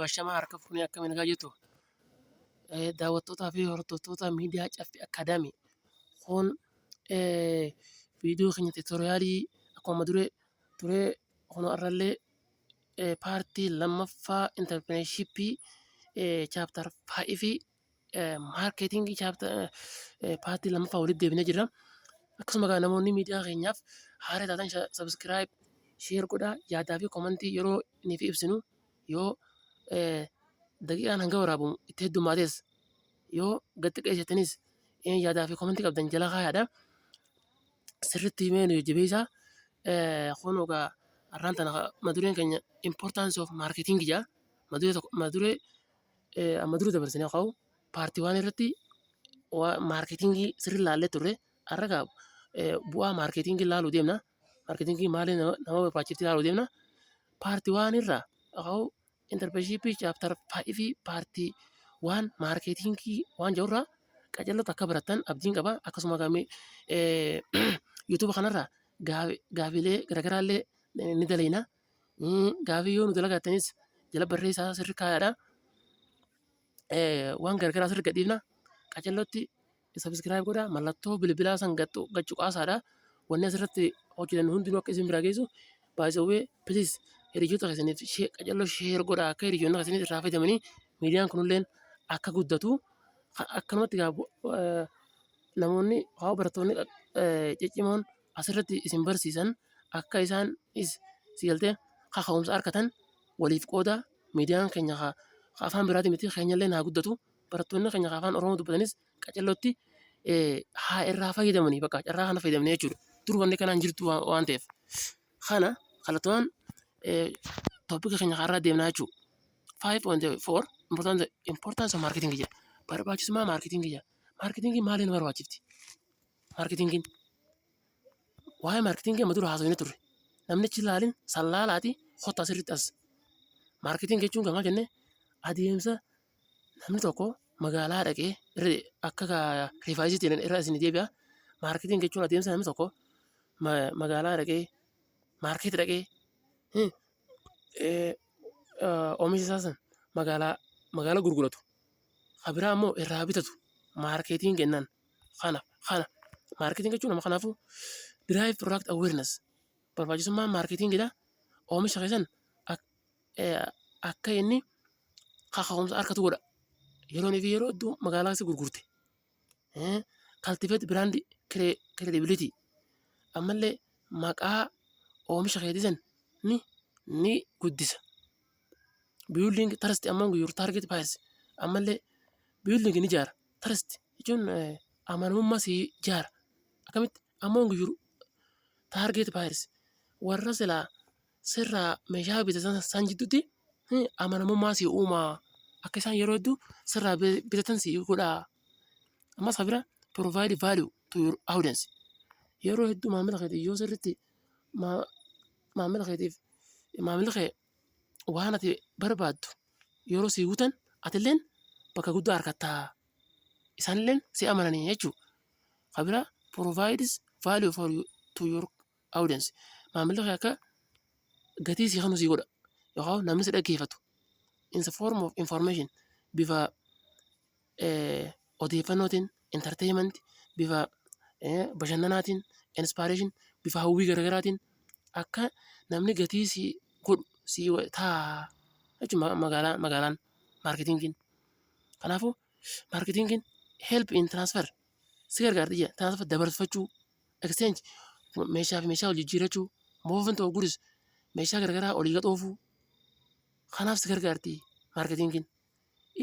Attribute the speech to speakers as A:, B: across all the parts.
A: Washama harka fuunee akkamiin argaa jirtu daawwattootaa fi hordoftoota miidiyaa Caffee Akaadaamii kun viidiyoo keenya tiitoriyaalii akkuma duree turee kun har'allee paartii lammaffaa intarpireenshippii chaaptar faayivii maarkeetingii paartii lammaffaa walitti deebinee jirra. Akkasuma egaa namoonni miidiyaa keenyaaf haara taatan sabiskiraayib, sheer godhaa yaadaa fi komantii yeroo inni fi ibsinu yoo daqiiqaan hanga waraabamu itti heddumaates yoo gad xiqqeessitanis yaadaa fi komantii qabdan jala kaayaadha. Sirriitti himee nu jajjabeessaa. Kun egaa har'aan tana mata dureen keenya importance of marketing jedha. Mata duree tokko mata duree amma dura dabarsine haa ka'u paartii waan irratti maarkeetingii sirri laallee turre har'a gaa bu'aa maarkeetingii laaluu deemna maarkeetingii maali nama barbaachifti laaluu deemna paartii waan irraa haa ka'u intarpeshiipii chaaptar faayivii paartii waan maarkeetingii waan jirurraa qajeelota akka baratan abdiin qaba akkasuma gamee yuutuuba kanarraa gaafilee garaagaraallee ni daleeyna. Gaafii yoo nu dalagaattanis jala barreessaa sirri kaayaadha. Waan gargaraa sirri gadhiifna. Qacellotti sabiskiraayib godha. Mallattoo bilbilaa san gachu qaasaadha. Wanni asirratti hojjetan hundinuu akka isin biraa geessu baay'isawwee piliis hiriyoota keessaniif qacelloo sheer godha akka hiriyoonni keessaniif irraa fayyadamanii miidiyaan kunilleen akka guddatu akkanumatti namoonni haa barattoonni ciccimoon asirratti isin barsiisan akka isaan is si galtee kaka'umsa arkatan waliif qooda miidiyaan keenya ka ka afaan biraatii miti keenyallee naa guddatu barattoonni keenya ka afaan oromoo dubbatanis qacellotti eh, haa irraa fayyadamanii bakka carraa kana fayyadamne jechuudha dur wanni kanaan jirtu waan waan ta'eef kana kallattumaan eh, toopika keenya kaarraa deemnaa jechuudha. 5.4 importance importance of marketing jedha barbaachisummaa marketing jedha marketing maaliin barbaachifti Maarketingiin. Waa'ee maarketingii amma dura haasofne turre. Namnichi ilaalin san laalaati hotta asirratti as. Maarketing jechuun gamaa jenne adeemsa namni tokko magaalaa dhaqee akka rifaayisiitti irra isin deebi'a. Maarketing jechuun adeemsa namni tokko magaalaa dhaqee maarkeet dhaqee oomisha isaa san magaalaa magaalaa gurguratu. Kabiraa immoo irraa bitatu maarkeetiin jennaan. kana kana maarkeetiin jechuun nama kanaafuu diraayii piroodaaktii awweernas barbaachisummaa maarkeetiingidha oomisha keessan akka inni kaka'umsa argatu godha yeroo inni fi yeroo iddoo magaalaa keessa gurgurte kaltifeet biraandii kireedibilitii ammallee maqaa oomisha keetii san ni ni guddisa. Building trust among your target buyers. Ammallee building ni ijaara. Trust jechuun eh, amanamummaa si ijaara. Akkamitti among your target buyers. Warra silaa sirraa meeshaa bitatan san jidduutti eh, amanamummaa si uumaa. Akka isaan yeroo hedduu sirraa bi- bitatan si godhaa. Ammas kan biraa provide value to your audience. Yeroo hedduu maamila keetiif yoo sirriitti maa- maamila keetiif maamilli kee waan ati barbaaddu yeroo sii guutan atilleen bakka guddaa argatta. Isaanilleen si amananii jechuudha. Kan biraa provides value for you to your audience. Maamilli kee akka gatii sii kennu sii godha. Yookaan namni si dhaggeeffatu in the form of information bifa odeeffannootiin, entertainment, bifa bashannanaatiin, inspiration, bifa hawwii gara garaatiin akka namni gatii sii godhu sii ta'a jechuudha magaalaa magaalaan maarketingiin. Kanaafuu maarketingiin help in transfer si gargaarti jechuudha. Transfer dabarfachuu, exchange meeshaa fi meeshaa wal jijjiirrachuu, movement of goods meeshaa gara garaa olii gad oofuu kanaaf si gargaarti maarketingiin.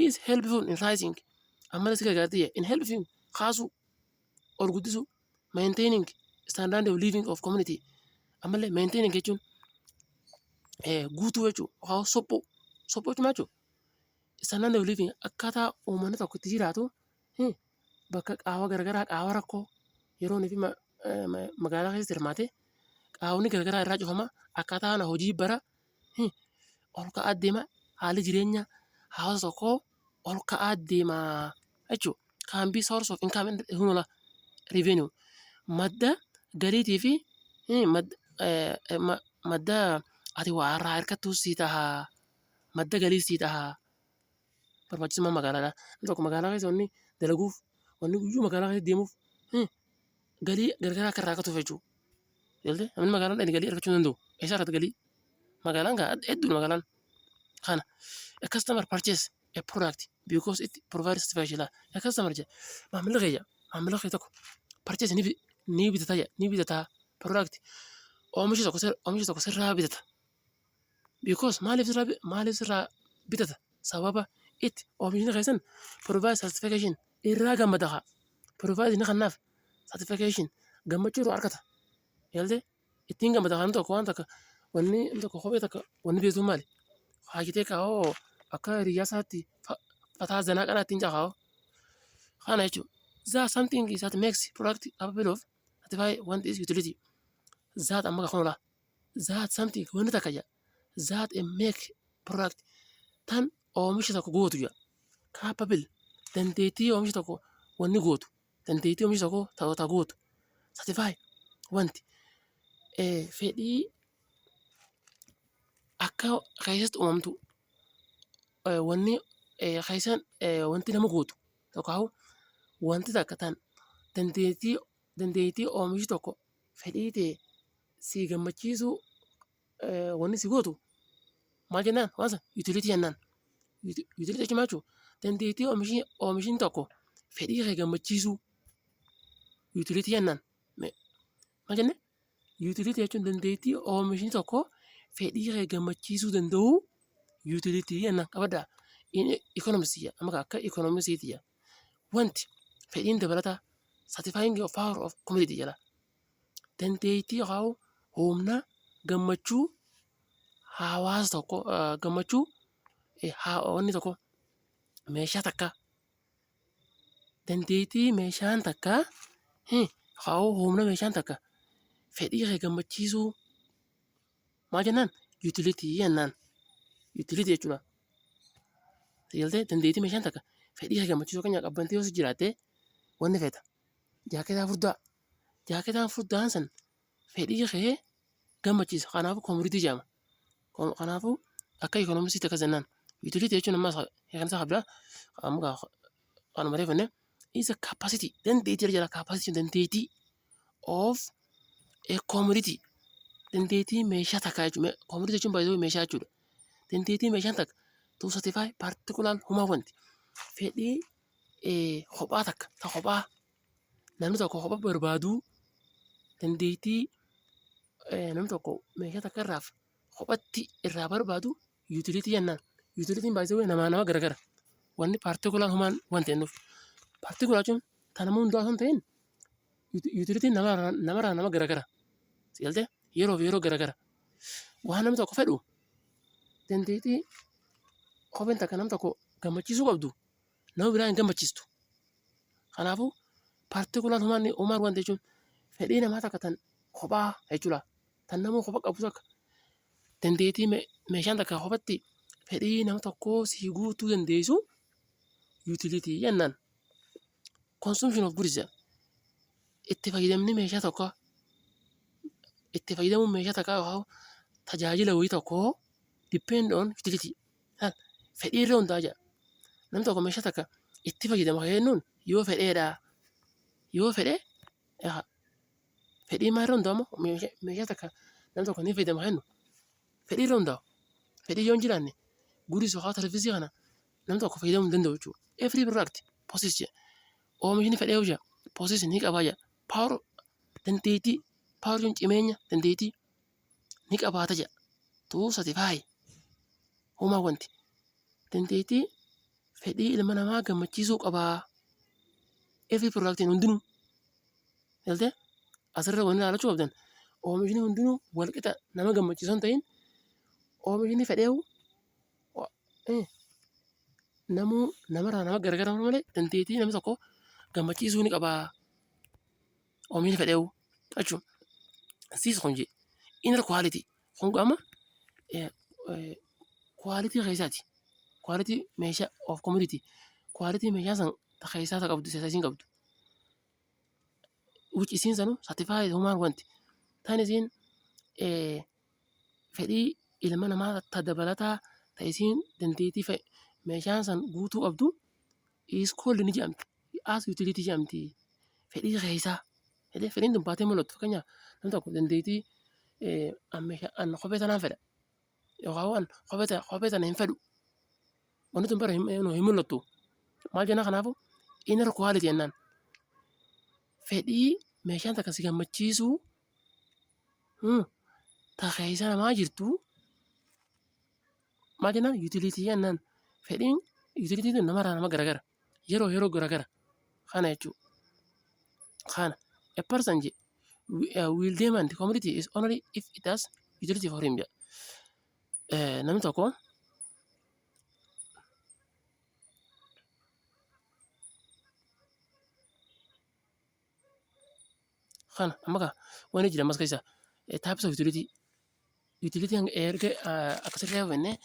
A: is helpful in rising ammallee si gargaartiyya in helping kaasuu ol guddisuu maintaining standard of living of community ammallee maintaining jechuun eh, guutuu jechuudha yookaan sophuu sophuu jechuun maal jechuudha standard of living akkaataa uummanni tokko itti jiraatu eh, bakka qaawwa garaagaraa qaawwa rakkoo yeroo inni fi ma- eh, ma- magaalaa keessa hirmaate qaawwonni garaagaraa irraa cufama akkaataa kana hojii bara ol ka'aa deema haalli jireenya hawaasa tokkoo ol ka'aa deema jechuudha. Can be source of income and revenue madda galiitii fi madda ati waa irraa hirkattu si taha madda galii si taha barbaachisummaa magaalaadha. Namni tokko magaalaa keessa wanni dalaguuf wanni guyyuu magaalaa keessa deemuuf galii gargaraa akka irraa argatuuf jechuudha. Galtee namni magaalaan dhaqee galii argachuu hin danda'u. Eessaa argata galii? Magaalaan gaa hedduudha magaalaan. Kana a customer purchase a product because it provides special a customer jedha. Maamilli kiyya maamilli kiyya tokko purchase ni bi- ni bitata jedha ni bitata product oomisha tokko sir- oomisha tokko sirraa bitata. Because maaliif sirraa bi- maaliif sirraa bitata sababa itti oomishni keessan provide certification irraa gammada haa provide ni kannaaf certification gammachuu irraa argata yaalde ittiin gammada haa tokko waan takka wanni inni tokko kophee takka wanni beektu maali haakitee kaa'oo akka hiriyyaa isaatti fa- fataa zanaa qanaa ittiin caahaa kana jechuudha. That something is that makes product available of certified want is utility. That amma kan oolaa. that something wanni takka jedha that a make product tan oomisha tokko gootu jedha capable dandeettii oomisha tokko wanni gootu dandeettii oomisha tokko ta'u ta gootu satisfy wanti eh, fedhii akka keessatti uumamtu eh, wanni eh, keessan eh, wanti nama gootu yookaan wanti takka tan dandeettii Dandeettii oomishi tokko fedhii ta'e sii gammachiisuu wanni si gootu maal jennaan waan san yuutiliitii jennaan. Yuutiliitii jechuun maal jechuudha? Dandeettii oomishiin tokko fedhii kee gammachiisuu yuutiliitii jennaan. Maal jennee? Yuutiliitii jechuun dandeettii oomishni tokko fedhii kee gammachiisuu danda'u yuutiliitii jennaan qabadhaa. Ikoonoomisiidha amma akka ikoonoomisiiti jedha. Wanti fedhiin dabalataa satisfying of power of community jedha. Dandeettii yookaan humna gammachuu hawaasa tokko gammachuu wanni tokko meeshaa takka dandeettii meeshaan takka yookaan humna meeshaan takka fedhii kee gammachiisuu Maal jennaan? Yuutilitii jennaan. Yuutilitii jechuudha. Tajaajiltee dandeettii meeshaan takka fedhii kee gammachiisuu kan qabbante yoo si jiraatte wanni feeta. Jaaketaa furdaa. Jaaketaan furdaan san fedhii kee gammachiisa. Kanaafuu koomiriitii jedhama. Kanaafuu akka ikoonomisii takka jennaan. Yuutilitii jechuun ammas kan isaa qabdaa. Amma kanuma reefanne. Isa kaapasitii dandeettii jala kaapasitii dandeettii. of a commodity dandeettii meeshaa takka jechuudha. Commodity jechuun baay'ee meeshaa jechuudha. Dandeettii meeshaan takka to satisfy particular human want fedhii kophaa takka ta kophaa namni tokko kophaa barbaadu dandeettii namni tokko meeshaa takka irraa kophatti irraa barbaadu. Yuutiliitii jennaan yuutiliitiin baay'isee namaa nama garagara. Wanni paartikulaan humaan waan ta'innuuf. Paartikulaa jechuun tan nama hundaa osoo hin ta'in yuutiliitiin namarraa namarraa nama garagara. Sigaltee yeroof yeroo garagara. Waan namni tokko fedhu dandeettii kopheen takka nam tokko gammachiisuu qabdu nama biraa hin gammachiistu. Kanaafuu paartikulaan humaan humaan waan jechuun fedhii namaa takka tan kophaa jechuudha. tan namuu kopha qabu takka dandeetii meeshaan takka kophatti fedhii nama tokkoo sii guutuu dandeessu yuutiliitii jennaan. Consumption of goods jedha. Itti fayyadamni meeshaa tokkoo itti fayyadamuun meeshaa takkaa yookaan tajaajila wayii tokkoo depend on utility fedhii irra hundaa'a jedha. Namni tokko meeshaa takka itti fayyadama kan jennuun yoo fedheedhaa yoo fedhe Fedhii maal irra hundaa'a immoo meeshaa meeshaa takka nam tokko ni fayyadama haa jennu fedhii irra hundaa'a. Fedhii yoo hin jiraanne guuris yookaan sarvisii kana nam tokko fayyadamuu hin danda'u jechuudha. Every product possess jedha. Oomishni fedhii yoo jira possess ni qabaa jedha. Power dandeettii power jechuun cimeenya dandeettii ni qabaata jedha. 235 homaa wanti dandeettii fedhii ilma namaa gammachiisuu qabaa. Every productiin hundinuu galtee asirra wanni ilaalachuu qabdan oomishni hundinuu walqixa nama gammachiisu hin ta'in oomishni fedheewu namuu namarraa nama gargaramu malee dandeettii nama tokko gammachiisuu ni qabaa. oomishni fedheewu jechuun siis kun jee inner quality kun qaama quality keessaati quality meeshaa of commodity quality meeshaa san ta keessaa ta qabdu isa isiin qabdu which isiin sanu certified human want tan isiin eh, fedhii ilma namaa ta dabalataa ta isiin dandeettii fe- meeshaan san guutuu qabdu is called ni jedhamti. As utility jedhamti. Fedhii keessaa. Fedhii fedhiin tun baatee mul'atu. Fakkeenyaaf namni tokko dandeettii eh, an meeshaa- an kophee tanaan fedha. Yookaan waan kophee ta- kophee tana hin fedhu. Wanti tun bara hin hin- hin mul'attu. Maal jenna kanaafuu? Inner quality jennaan. Fedhii meeshaan takka si gammachiisu hmm, ta keessa namaa jirtu Maal jennaan yuutiliitii jennaan fedhiin yuutiliitii tun namarraa nama garagara yeroo yeroo garagara kana jechuu kana a person je uh, will demand commodity is only if it has utility for him jedha. Eh, Namni tokko kana amma kaa wanni jira ammas keessa eh, types of utility Yuutiliitii hanga erga akkasirraa hubannee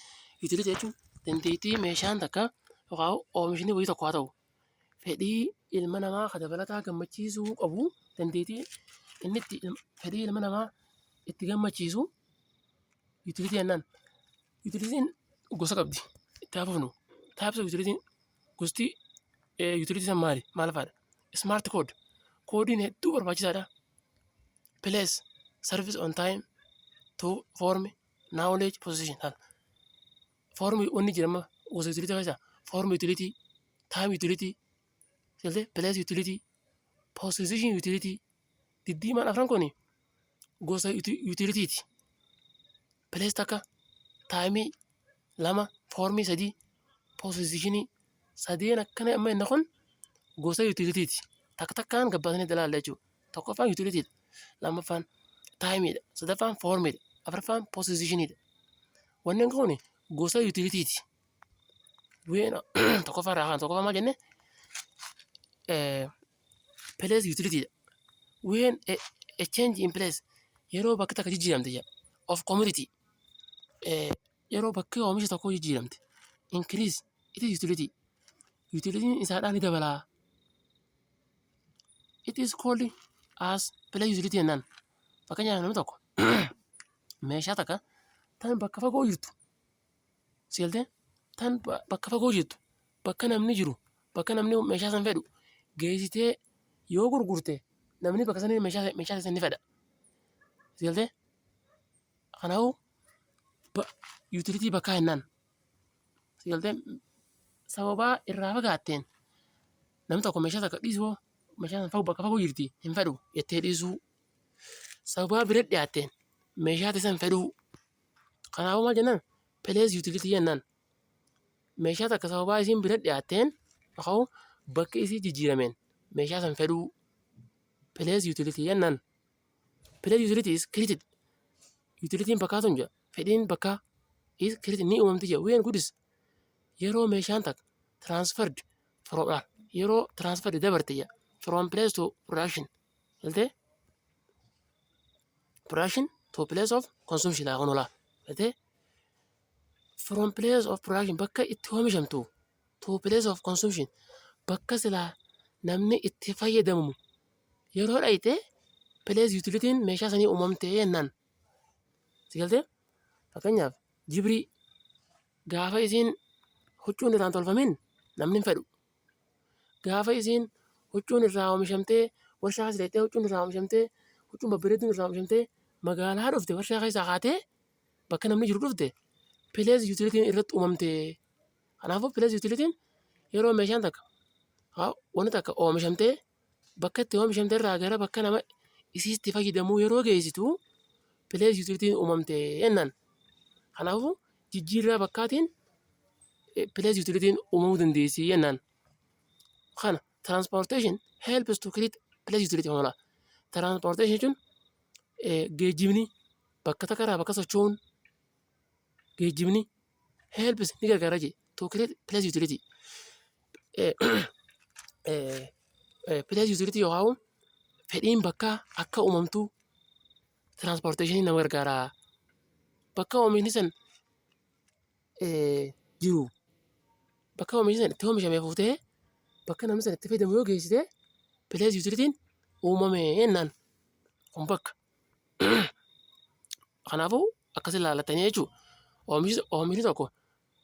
A: yuutiliitii jechuun dandeettii meeshaan takka yookaan oomishni wayii tokko haa ta'u fedhii ilma namaa kan dabalataa gammachiisuu qabu dandeettii inni itti fedhii ilma namaa itti gammachiisu yuutiliitii jennaan. Yuutiliitiin gosa qabdi. Itti haa fufnu. Taayipsii yuutiliitiin gosti yuutiliitii san maali? Maal faadha? Ismaarti kood. Koodiin hedduu barbaachisaadha. Place service on time to form knowledge position haala. Form wanni jedhama gosa utility keessa form utility, time utility, selte place utility, position utility diddiimaan afran kuni gosa uti- utility ti. Place takka time lama form sadii position sadeen akkana amma inni kun gosa utility ti. Takka takkaan gabbaasanii dalaalla jechuudha. Tokkoffaan yuutilitiidha. Lammaffaan taayimiidha. Sadaffaan foormiidha. Afraffaan poosizishiniidha. Wanneen kun gosa yuutilitiiti. Ween tokkoffaa irraa kan tokkoffaa maal jenne pilees yuutilitiidha. Ween a change in place yeroo bakki takka jijjiiramte jedha. Of community yeroo bakki oomisha tokkoo jijjiiramte. Increase it is utility. Yuutilitiin isaadhaa ni dabalaa. It is called as play utility jennaan. Fakkeenyaaf namni tokko meeshaa takka tan bakka fagoo jirtu seeltee tan ba- bakka fagoo jirtu bakka namni jiru bakka namni meeshaa san fedhu geessitee yoo gurgurte namni bakka sanii meeshaa meeshaa san ni fedha. Seeltee kanaafuu ba- utility bakkaa jennaan. Sigaltee sababaa irraa fagaatteen namni tokko meeshaa takka dhiisuu meeshaa sana fagoo bakka fagoo jirti hin fedhu jettee dhiisuu sababaa bira dhiyaatteen meeshaa teessan fedhuu kanaafuu maal jennaan pilees yuutilitii jennaan meeshaa takka sababaa isiin bira dhiyaatteen yookaan bakki isii jijjiirameen meeshaa san fedhuu pilees yuutilitii jennaan. Play utility is created. Utilitiin bakkaa tun jira. Fedhiin bakkaa is created ni uumamti jira. When goods yeroo meeshaan takka transferred from ah, yeroo transferred dabarte jira. From place to production. Galtee? Production to place of consumption haa kunolaa. Galtee? From place of production bakka itti oomishamtu to place of consumption bakka silaa namni itti fayyadamu yeroo dhayxe place utilitiin meeshaa sanii uumamtee jennaan. Si galtee? Fakkeenyaaf jibrii gaafa isiin huccuun irraan tolfamin namni hin fedhu. Gaafa isiin huccuun irraa oomishamtee warshaa keessa dhayxee huccuun irraa oomishamtee huccuun babbareedduun irraa oomishamtee magaalaa dhufte warshaa keessaa kaatee bakka namni jiru dhufte place utilitiin irratti uumamtee. Kanaafuu pilees yuutilitiin yeroo meeshaan takka wanti takka oomishamtee bakka itti oomishamte irraa gara bakka nama isii itti fayyadamuu yeroo geessitu pilees yuutilitiin uumamte jennaan. Kanaafuu jijjiirraa bakkaatiin pilees yuutilitiin uumamuu dandeessi jennaan. Kana tiraanspoorteeshin helps to create pilees yuutilitii hoolaa. Tiraanspoorteeshin jechuun geejjibni bakka takka irraa bakka socho'uun geejjibni helps ni gargaara jee to create place utility Eh, eh, eh, place utility yoo haa'u fedhiin bakka akka uumamtu transportation nama gargaara bakka oomishni san eh, jiru bakka oomishni san itti oomishame fuutee bakka namni san itti fayyadamu yoo geessite place utilitiin uumame jennaan kun bakka Kanaafuu akkas ilaalatanii jechuudha. Oomishni oomishni tokko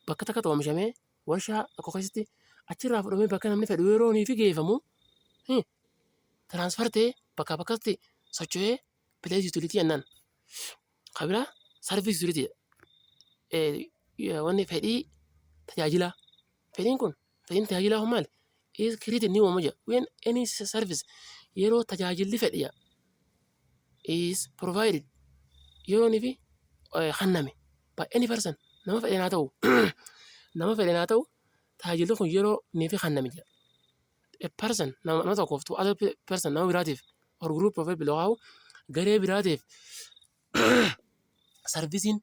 A: bakka takkatti oomishamee warshaa tokko keessatti achirraa fudhamee bakka namni fedhu yeroo inni fi geeffamu tiraansfar ta'ee bakka bakkatti socho'ee pilees yuutilitii jennaan. Kan biraa sarviis yuutilitii wanni fedhii tajaajilaa. Fedhiin kun Fedhiin tajaajilaa kun maali? Is created ni uumama jedha. When any service yeroo tajaajilli fedhe jedha. Is provided yeroo inni fi eh, hanname. By any person nama fedhe naa ta'u nama fedhe naa ta'u tajaajilli kun yeroo inni fi hanname jedha. A person nama nama tokkoof to other pe- person nama biraatiif or group of people yookaan garee biraatiif sarvisiin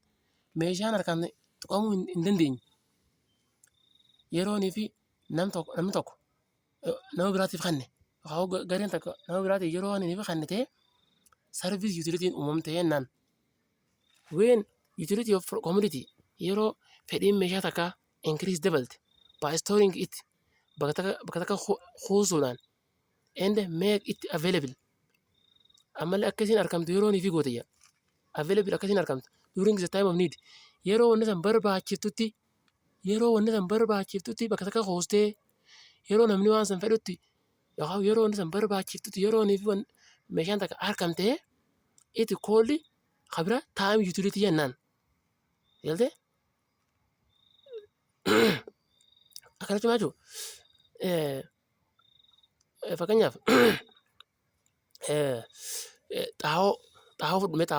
A: meeshaan harkaan tuqamuu hin hin dandeenye. yeroonii fi nam tokko namni tokko eh, nama biraatiif kenne yookaan hoo ga- gareen tokko nama biraatiif yeroo waan inni kenne ta'e sarviis yuutilitiin uumamte jennaan ween yuutilitii of koomiditi yeroo fedhiin meeshaa takkaa inkiriis dabalte baayistooring itti bakka takka bakka takka ku- kuusuudhaan and make it available ammallee akka isin argamtu yeroo ni fi goote jedha available akka isin argamtu during the time of need yeroo wanni san barbaachiftutti yeroo wanni san barbaachiftutti bakka takka hoostee yeroo namni waan san fedhutti yookaan yeroo wanni san barbaachiftutti yeroo ni fi wan- meeshaan takka argamtee itti koolli kabira time utility jennaan galtee akkana cimaa jiru. Fakkeenyaaf xaa'oo fudhannee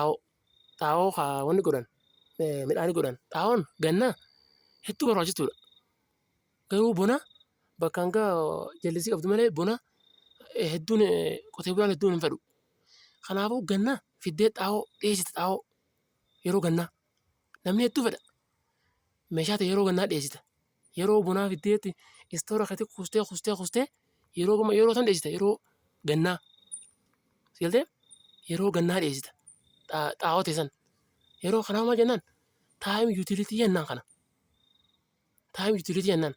A: xaa'oo kan godhan midhaan godhan xaa'oon ganna hedduu barbaachistuudha. Garuu bona bakka hanga jallisii qabdu malee bona hedduun qotee bulaan hedduun hin fedhu. Kanaafuu ganna fiddee xaa'oo dhiyeessita xaa'oo yeroo gannaa. Namni hedduu fedha. Meeshaa ta'e yeroo gannaa dhiyeessita. Yeroo bonaa fiddeetti istoora keessatti kuustee kuustee kuustee yeroo gama yeroo san dhiyeessita yeroo gannaa. Sigaltee yeroo gannaa dhiyeessita. Xaa'oo ta'e san. Yeroo kanaa maal jennaan taayim yuutiliitii jennaan kana. Taayim yuutiliitii jennaan.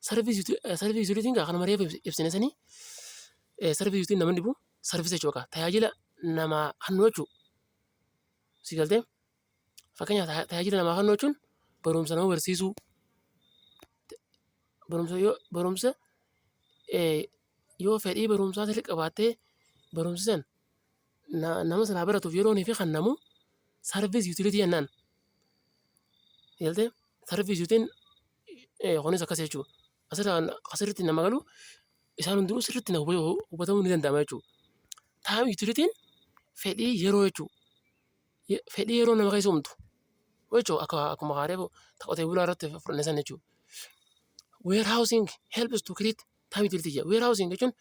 A: Sarviis yuutiliitiin gaa kanuma reefu ibsine sanii sarviis yuutiliitiin nama dhibu sarviis jechuu qaba. Tajaajila namaa hannu jechuudha. Si galtee? Fakkeenyaaf ta- tajaajila namaa kennuu jechuun barumsa nama barsiisuu, barumsa yoo barumsa eh, yoo fedhii barumsaa sirrii qabaattee barumsi san na- nama sanaa baratuuf yeroo fi kennamu sarviis yuutiliitii jennaan. Si galtee? Sarviis yuutiin eh, kunis akkas jechuudha. asirraan asirratti nama galu isaan hundinuu sirriitti na hubatu- hubatamuu ni danda'ama jechuudha. Taa'im yuutilitiin fedhii yeroo jechuudha. Ye- Fedhii yeroo nama keessa uumtu jechuudha akka akkuma haaree qotee bulaa irratti fudhanne sana jechuudha. Warehousing helps to create taa'im yuutilitii jedha. Warehousing jechuun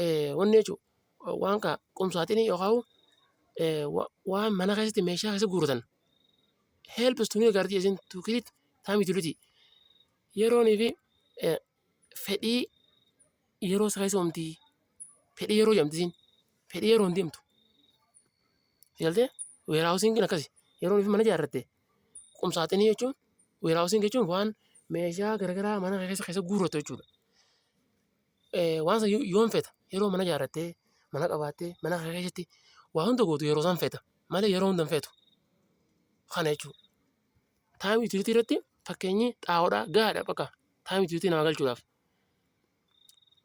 A: eh, wanni jechuudha waan kaa qumsaatiin yookaan eh, wa- waan mana keessatti meeshaa keessa guuratan helps to gargaarti isin to create taa'im yuutilitii. Yeroonii fi fedhii yeroo isa keessa uumti. Fedhii yeroo jedhamti isiin. Fedhii yeroo hin deemtu. Galtee weeraawusiin kun akkasi. Yeroonii fi mana ijaarratte. Qumsaaxinii jechuun weeraawusiin jechuun waan meeshaa garaagaraa mana keessa keessa guurratu jechuudha. Waan sana yoom feeta? Yeroo mana ijaarrattee, mana qabaattee, mana kee keessatti waa hunda gootu yeroo san feeta. Malee yeroo hunda hin feetu. Kana jechuudha. Taayim yuutilitii irratti fakkeenyi xaa'oodhaa gahaadha bakka taayim yuutilitii namaa galchuudhaaf.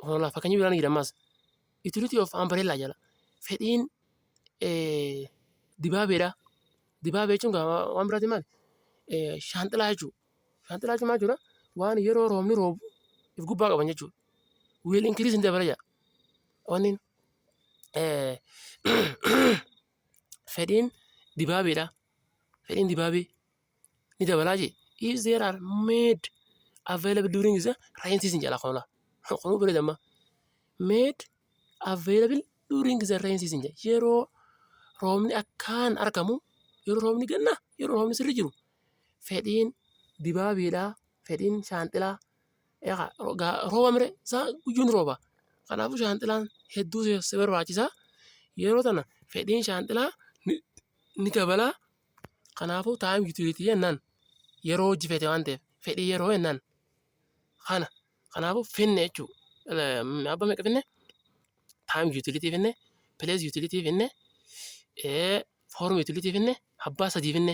A: Hoolaa fakkeenyi biraan jira ammaas. Yuutilitii of ambareellaa jala fedhiin dibaabeedha. Dibaabee jechuun waan biraati maali? Shaanxilaa jechuudha. Shaanxilaa jechuun maal jechuudha? Waan yeroo roobni roobu of gubbaa qaban jechuudha. Wiil inkiriis hin dabala jedha. Wanni fedhiin dibaabeedha. Fedhiin dibaabee ni dabalaa jee. If there are made available during the rain season jedha qola. Qoluu bira damma. Made available during the rain season jedha. Yeroo roobni akkaan argamu yeroo roobni ganna yeroo roobni sirri jiru fedhiin dibaabeedha. Fedhiin shaanxilaa Egaa ro- gaa- rooba mire isaa guyyuun rooba. Kanaafuu shaanxilaan hedduu si- si barbaachisa. Yeroo tana fedhiin shaanxilaa ni, ni dabala. Kanaafuu taa'im yuutiliitii jennaan yeroo hojii feete waan ta'eef fedhii yeroo jennaan kana. Kanaafuu finne jechuu. Abba meeqa finne? Taa'im yuutiliitii finne, pilees yuutiliitii finne, ee, foorm yuutiliitii finne, abbaa sadii finne.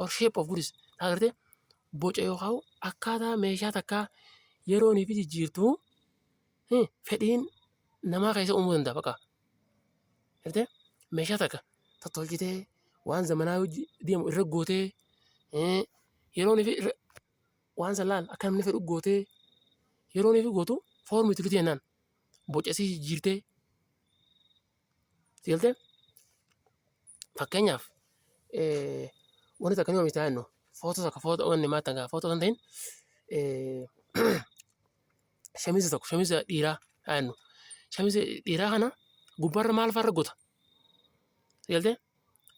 A: or shape of goods taa gartee boca yookaan akkaataa meeshaa takkaa yeroonii fi jijjiirtuu eh, fedhiin namaa keessa uumuu danda'a baqa. Gartee meeshaa takka tottolchitee waan zamanaa hojii deemu irra gootee eh, yeroonii fi irra- waan san laal akka namni fedhu gootee yeroonii fi gootu foormii tulitee naan boca isii jijjiirtee Sigalte fakkeenyaaf wanti takka ni oomishtaa jennu footoo takka footoo wanni maal takka footoo kan ta'in shamiza tokko shamiza dhiiraa haa jennu shamiza dhiiraa kana gubbaarra maal faarra gota sigalte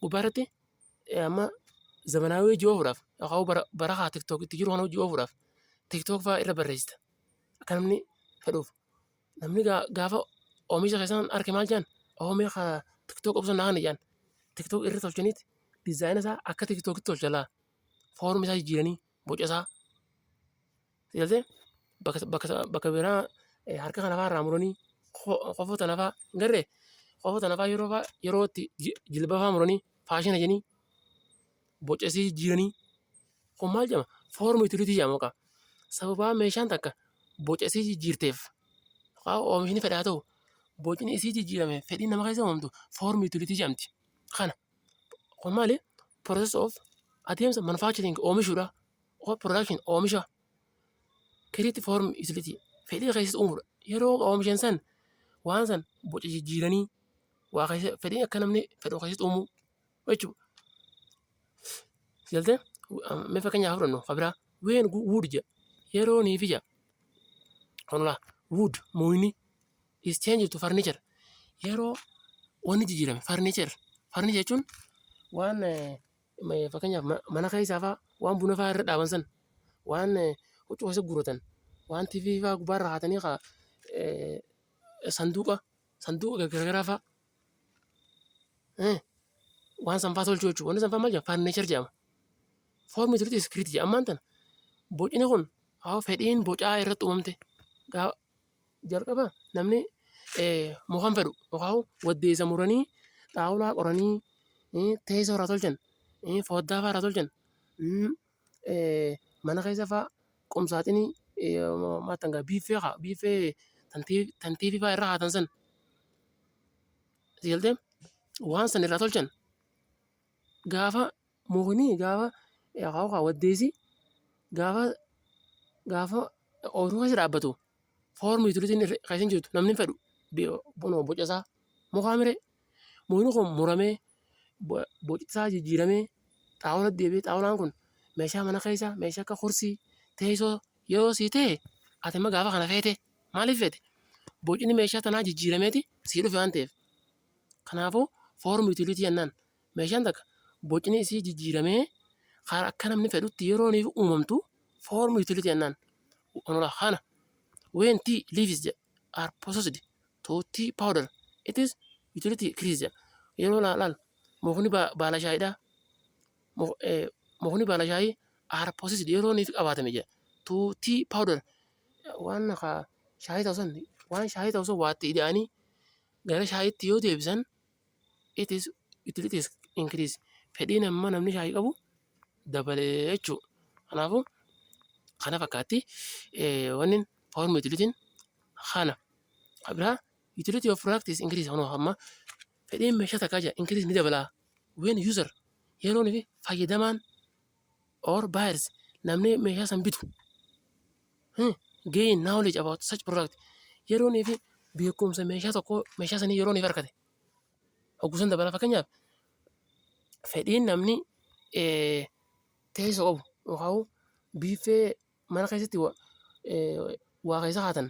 A: gubbaarratti amma zamanaawii hojii oofuudhaaf yookaan bara bara haa tiktook itti jiru kana hojii oofuudhaaf tiktook fa'aa irra barreessita akka namni fedhuuf Namni gaa- gaafa oomisha keessan arke maal jedhan? Oomee ka tiktook obsa naa kana jedhan. Tiktook irra tolchaniiti dizaayina isaa akka tiktookitti tolcha laa. Foormi isaa jijjiiranii boca isaa. Sigaltee bakka bakka bakka biraa eh, harka kana fa'aa irraa muranii ko- kofoo tana fa'aa hin garree kofoo tana fa'aa yeroo fa'aa yeroo itti ji- jilba fa'aa muranii faashina jedhanii boca isii jijjiiranii Kun maal jedhama? Foormi itiliitii jedhama kaa. Sababaa meeshaan takka boca isii jijjiirteef kaa oomishni fedhaa ta'u bocni isii jijjiirame fedhii nama keessa uumamtu foormi itiliitii jedhamti. Kana kun maali? Process of adeemsa manufacturing oomishuudha. Of production oomisha. Create form itiliitii fedhii keessatti uumuudha. Yeroo oomishan san waan san boca jijjiiranii waa keessa fedhii akka namni fedhu keessatti uumuu. jechuudha. Galtee mee fakkeenyaaf fudhannu kabiraa ween wuud jedha yeroo niif ija kanulaa wuud muuyni is change to furniture yeroo wanni jijjiirame furniture furniture jechuun waan eh, ma- fakkeenyaaf ma- mana keessaa fa'aa waan buna fa'aa irra dhaaban san waan eh, huccuu keessa guuratan waan tiifii fa'aa gubbaarra haatanii kaa eh, sanduuqa sanduuqa gargaraafaa Eh, Waan sanfaa tolchuu jechuudha. Wanni sanfaa maal jedhama? Faarnichar jedhama. Foormii turutti iskiriitii jedhama. Ammaan tana bocni kun haa fedhiin bocaa irratti uumamte. Gaa jalqaba namni eh, mukaan fedhu yookaan waddeessa muranii xaawulaa qoranii eh, teessoo irraa tolchan eh, foddaa fa'aa irraa tolchan mm, mana keessa faa qumsaaxinii maal tanga biiffee kaa biiffee tan tiivii faa irra haatan san si galtee waan san irraa tolchan gaafa mukni gaafa akaa'u kaa waddeessi gaafa gaafa ooyiruu keessa dhaabbatu foormi tulitiin keessa hin jirtu namni hin fedhu boca isaa mukaa miree mukni kun muramee boci isaa jijjiiramee xaawulatti deebi'ee xaawulaan kun meeshaa mana keessaa meeshaa akka kursii teessoo yeroo sii ta'e ati amma gaafa kana feete maaliif feete bocni meeshaa tanaa jijjiirameeti sii dhufe waan ta'eef kanaafuu foormi yuutiliitii jennaan meeshaan takka bocni isii jijjiiramee karaa akka namni fedhutti yeroo niif uumamtu foormi yuutiliitii jennaan onolaa kana weentii liifis jedha are processed to tea powder. It is utility criteria. Yeroo laalaan mukni baala shaayiidha. Mukni baala shaayii are processed yeroo inni qabaatame jira. To tea powder waan shaayii ta'u san waan shaayii ta'u san waatti ida'anii gara shaayiitti yoo deebisan it is utilities increase fedhiin amma namni shaayii qabu dabalee jechuu kanaafuu kana fakkaatti wanni form utilitiin kana biraa utility of product is increase kanuma amma fedhiin meeshaa takkaa jira increase ni dabalaa when user yeroon fi fayyadamaan or buyers namni meeshaa san bitu hmm, gain knowledge about such product yeroonii fi beekumsa meeshaa tokko meeshaa sanii yerooniif argate hoggusan dabala fakkeenyaaf fedhiin namni eh, teessoo qabu yookaan biiffee mana keessatti wa- eh, waa keessa kaatan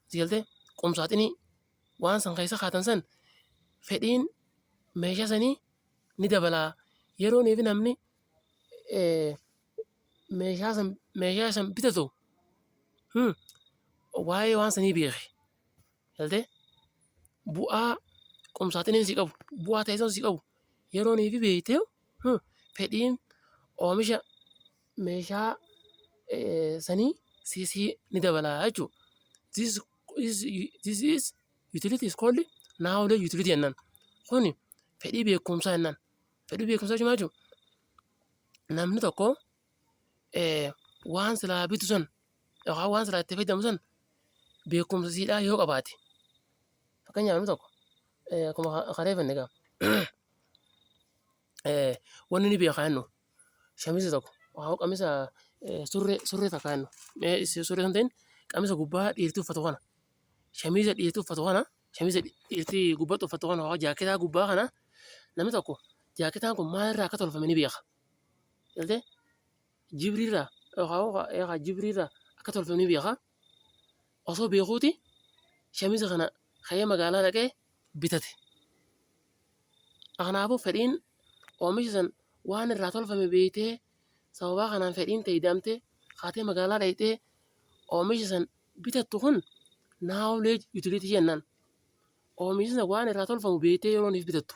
A: si galtee qumsaaxinii waan san keessa kaatan san fedhiin meeshaa sanii ni dabalaa yerooniif namni eh, meeshaa san meeshaa san bitatu hmm, waa'ee waan sanii beeke galtee bu'aa qumsaaxiniin si qabu bu'aa teessoon si qabu yerooniif beektee hmm, fedhiin oomisha meeshaa sanii this ni dabala jechuudha. This is this is utility is called knowledge utility jennaan. Kuni fedhii beekumsaa jennaan. Fedhii beekumsaa jechuun maal jechuudha? Namni tokko eh, waan silaa bitu san yookaan waan silaa itti fayyadamu san beekumsa siidhaa yoo qabaate. Fakkeenyaaf namni tokko eh, akkuma kareeffanne egaa Wanni ni beeka jennu shamiza tokko haa qamisa surree surree takka jennu surree kan ta'in qamisa gubbaa dhiirtii uffatu kana shamiza dhiirtii uffatu kana shamiza dhiirtii gubbatti uffatu kana haa jaaketaa gubbaa kana namni tokko jaaketaan kun maalirraa akka tolfame ni beeka. Jibrirraa yookaan jibrirraa akka tolfame ni beeka. osoo beekuuti shamiza kana ka'ee magaalaa dhaqee bitate. Kanaafuu fedhiin oomisha san waan irraa tolfame beektee sababaa kanaan fedhiin ta'e ida'amtee kaatee magaalaa dhaqxee oomisha san bitattu kun knowledge utility jennaan. Oomisha san waan irraa tolfamu beektee yeroo inni bitattu.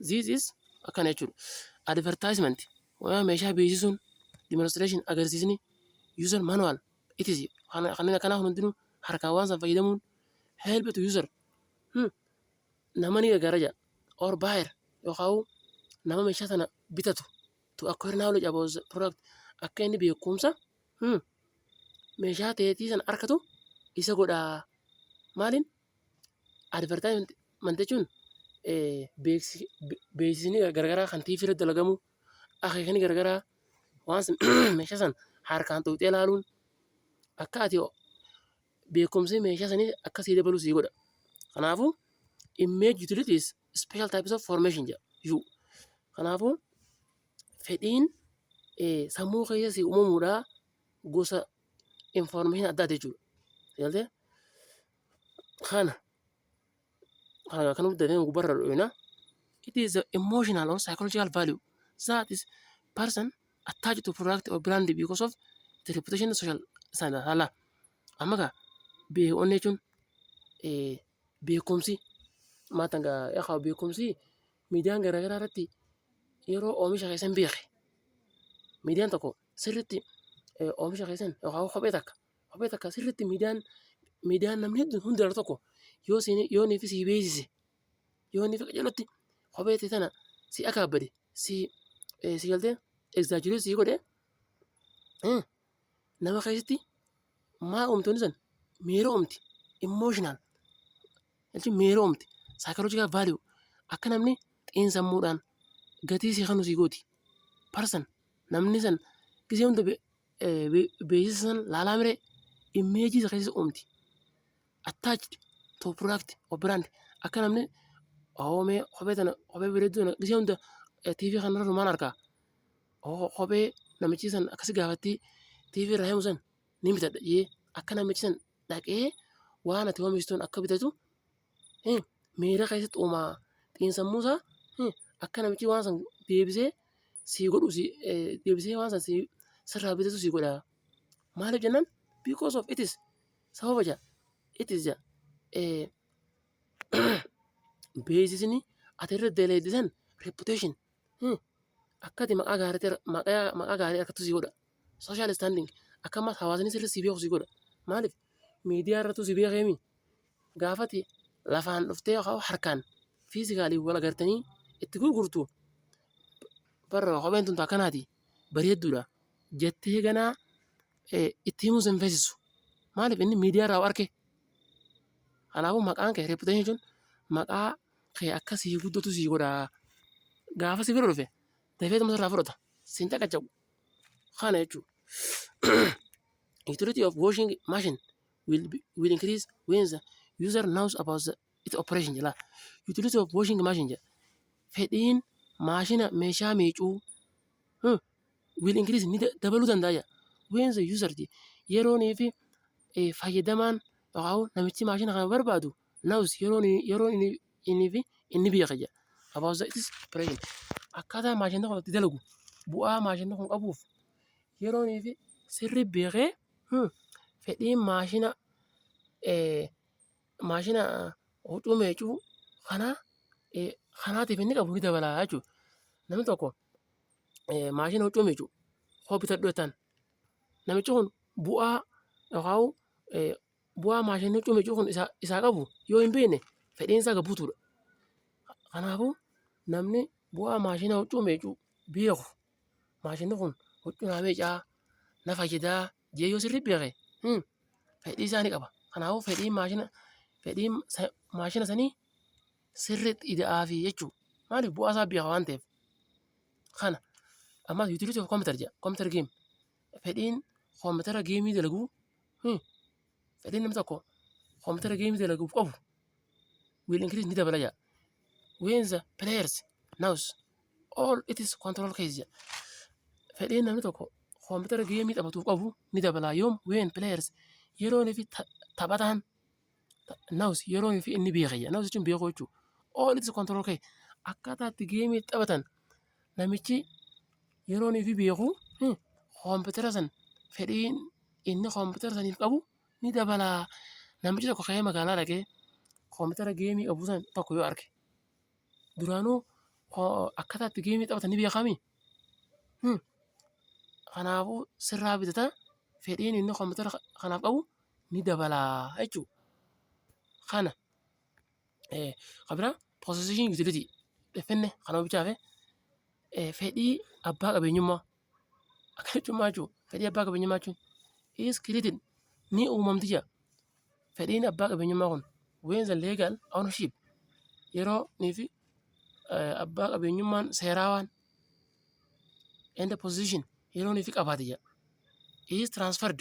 A: This is akkana jechuudha. Advertisement waan meeshaa beeksisuun demonstration agarsiisni user manual it is kana- kanneen akkanaa kun hundinuu harkaan waan san fayyadamuun help to user hmm. nama ni gargaara jedha or buyer yookaan nama meeshaa sana bitatu to acquire knowledge about the product akka inni beekumsa hmm, meeshaa teetii sana arkatu isa godhaa maaliin Advertisement jechuun beeksisni garagaraa kan TV irratti dalagamu, akeekni garagaraa waan san meeshaa san harkaan tuqxee ilaaluun akka ati beekumsi meeshaa sanii akka sii dabalu sii godha. Kanaafuu image utilities special types of formation jedha. Yuu. Kanaafuu fedhiin sammuu keessa sii uumamudha gosa information addaati jechuudha. Galtee kana kana kan hunda ta'e gubbarra dho'ina. It is the emotional or psychological value that is person attached to product or brand because of the reputation and social standard. Hala. Amma kaa beekoon jechuun eh, beekumsi maatan gaa yaa beekumsi miidiyaan garaagaraa irratti yeroo oomisha keessan beeke miidiyaan tokko sirriitti oomisha keessan yookaan kophee takka kophee takka sirriitti miidiyaan miidiyaan namni hedduun hundi irra tokko yoo siin yoo niifi sii beeksise yoo niifi qajeelatti kophee ta'e tana si akaabbade si si galtee egzaajirii sii godhe nama keessatti maa uumtoonni san miira uumti immooshinal jechuun miira uumti saayikoloojikaal vaaliyuu akka namni xiinsammuudhaan gatii sii kanu sii gooti parsan Namni san gisee hunda be- eh, be- beeksisa san laalaa mire immeejii isa keessa uumti. Attached to product or brand akka namni oo mee kophee tana kophee bareedduu tana gisee hunda eh, TV kanarra numaan argaa. Oo kophee namichi san akkasi gaafattii TV irraa himu san ni bitadha jee akka namichi san dhaqee waan ati oomishtuun akka bitatu miira keessatti uumaa xiinsammuu isaa akka namichi waan san deebisee sii godhu deebisee waan san sirraa bitatu sii godha. Maaliif jennaan because of it is sababa jaa it is jaa beeksisni ati irra dalaydde san reputation Akkati maqaa gaarii maqaa gaarii harkattu si godha. Social standing akkasumas hawaasni sirri si beeku si godha. Maaliif miidiyaa irrattu si beekeemi gaafati lafaan dhuftee yookaan harkaan fiizikaalii wal agartanii itti gurgurtu barra kopheen tun akkanaati bareedduudha jettee ganaa itti himuu sin feesisu. Maaliif inni miidiyaa irraa arke. Kanaafuu maqaan kee reputation jechuun maqaa kee akka sii guddatu sii godha. Gaafa si bira dhufe dafee dhuma irraa fudhata. Siin caqacaqu. Kana jechuudha. Utility of washing machine will, be, will increase when the user knows about the, its operation jedha. Utility of washing machine jedha. Fedhiin maashina meeshaa miicuu hmm, will increase ni da- dabaluu danda'a jedha. When the user jedha. Yeroonii fi eh, fayyadamaan yookaan namichi maashina kana barbaadu Now's yeroon yeroon inni inni fi inni biyya kiyya. About the is present. Akkaataa maashinni kun itti dalagu bu'aa maashinni kun qabuuf yeroon fi sirri beekee hmm, fedhiin maashina eh, maashina huccuu meecuu kanaa eh, kanaatiif inni qabu ni dabalaa jechuudha. Namni tokko eh, maashina huccuu meecuu hoo bitadhu jettaan namichi kun bu'aa yookaan eh, bu'aa maashinni huccuu miiccuu kun isaa isaa qabu yoo hin beekne fedhiin isaa gad butuudha. Kanaafuu namni bu'aa maashina huccuu miiccuu beeku maashinni kun huccuu naa miiccaa na fayyadaa jedhee yoo sirrii beeke hin fedhii isaa ni qaba. Kanaafuu fedhii maashina fedhii maashina sanii sirriitti ida'aafii jechuudha. Maaliif bu'aa isaa beeka waan ta'eef. Kana ammas utility of computer jedha computer game fedhiin koompitara geemii dalaguu. Fedhiin namni tokko koompitara geemii dalaguuf qabu will increase ni dabala jaa. When the players knows all it is control case jaa. Fedhiin namni tokko koompitara geemii taphatuuf qabu ni dabala yoom when players yeroon fi ta- taphataan Naws yeroo fi inni beeka jedha. Naws jechuun beekuu jechuudha. All its control kee akkaataa itti geemii itti taphatan namichi yeroo fi beeku hmm, koompitara san fedhiin inni koompitara saniif qabu ni dabala. Namichi tokko ka'ee magaalaa dhaqee koompitara geemii qabu san tokko yoo arge duraanuu koo- akkaataa itti geemii taphatan ni beekami. Hmm. Kanaafuu sirraa bitata fedhiin inni koompitara kanaaf qabu ni dabala jechuudha. Kana kan biraa possession utility finne kan omishaa fi fedhii abbaa qabeenyummaa akka jechuummaa jechuudha. Fedhii abbaa qabeenyummaa jechuun is created ni uumamti jira. Fedhiin abbaa qabeenyummaa kun when the legal ownership yeroo fi abbaa qabeenyummaan seeraa waan and position yeroo nuti qabaate jedha. Is transferred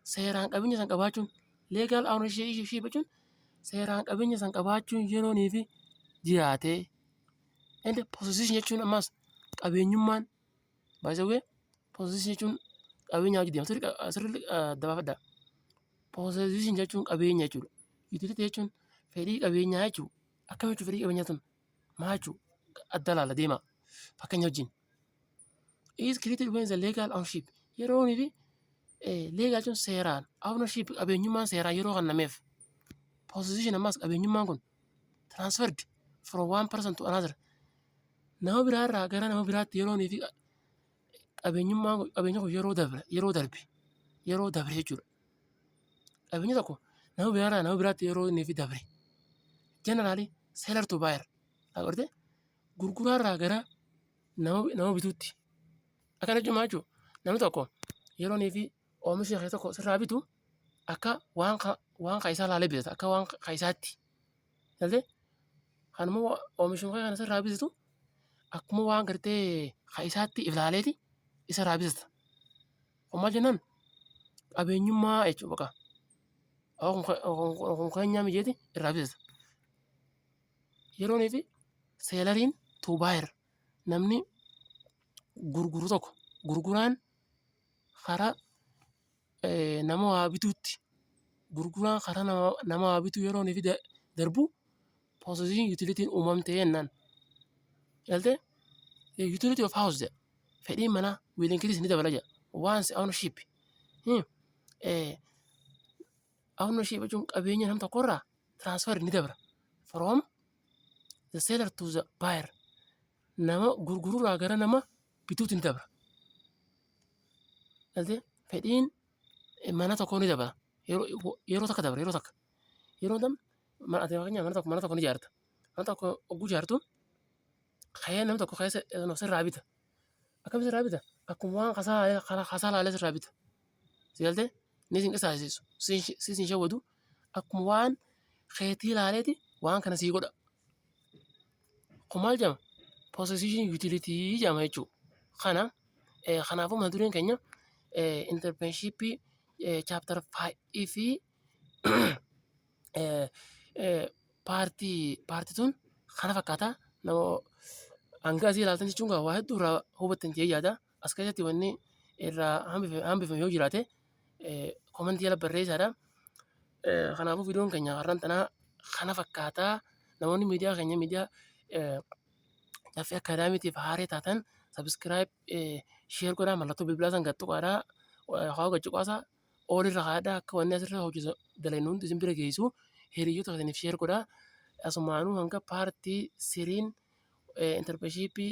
A: seeraan qabeenya san qabaachuun legal ownership ishee jechuun seeraan qabeenya san qabaachuun yeroo nuti jiraate and position jechuun ammas qabeenyummaan by the way position jechuun qabeenya hojii deemtu asirratti dabaafadha. Position jechuun qabeenya jechuudha. Utility jechuun fedhii qabeenyaa jechuudha. Akkamitti fedhii qabeenyaa tun Maa jechuudha? Adda laala deemaa. Fakkeenya wajjin. Is created when the legal ownership yeroo fi legal jechuun seeraan ownership qabeenyummaan seeraa yeroo kennameef position ammaas qabeenyummaan kun transferred from one person to another nama biraa irraa gara nama biraatti yeroo fi qabeenyummaan qabeenya kun yeroo dabre yeroo darbe yeroo dabre jechuudha. Qabeenyi tokko nama biraarraa nama biraatti yeroo inni fi dabre jeneraali seelar tu baayar agartee gurguraarraa gara nama nama bituutti akka jechuun maal jechuudha namni tokko yeroo inni fi oomisha kee tokko sirraa bitu akka waan ka waan ka isaa laalee bitata akka waan ka isaatti. Galtee? Kanuma oomishuma kee kana sirraa bisitu akkuma waan gartee ka isaatti ilaaleeti isarraa bisita. Kun maal jennaan qabeenyummaa jechuudha baqa. Kun keenyaa mijeeti irraa bisita. Yeroonii fi seelariin tuu baayir namni gurguru tokko gurguraan karaa nama waa bituutti gurguraa karaa nama waa bituu yeroon fi darbu possessive utilitiin uumamte jennaan. Galtee? Utility of house jedha. Fedhiin manaa will increase ni dabala jedha. Once ownership. Hmm. Eh, ownership jechuun qabeenya nam tokkorraa transfer ni dabra. From the seller to the buyer. Nama gurgururraa gara nama bituutti ni dabra. Galtee fedhiin mana tokkoo ni dabala. Yeroo takka dabala yeroo takka. Yeroo dam ati fakkeenyaaf mana tokko mana tokko ni ijaarta. Mana tokko ogguu ijaartu ka'ee namni tokko ka'ee sirraa bita. Akkamitti sirraa bita? Akkuma waan kasaa laalee sirraa bita. Si galtee? Ni sin qisaasisu. Si sin shawwadu. Akkuma waan keetii laaleeti waan kana sii godha. kun maal jedhama possession utility jedhama jechuudha. Kana kanaafuu mata dureen keenya internship chapter 5 fi paartii paartii tun kana fakkaata nama hanga asii ilaaltan jechuun waa hedduu irraa hubattan jedhee yaada. As keessatti wanni irraa hambif- hambifame yoo jiraate eh, komentii jala barreessaadha. Eh, Kanaafuu viidiyoon keenya har'aan tanaa kana fakkaataa namoonni miidiyaa keenya miidiyaa eh, Caffee Akaadaamiitiif haaree taatan sabiskiraayib sheer godhaa mallattoo bilbilaa san gattuqaadhaa haa gachuqaasaa oolirra haadhaa akka wanni asirra hojjetu dalaynu hundi isin bira geessu hiriyyota keessaniif sheer godhaa asumaanuu hanga paartii siriin intarpeshiippii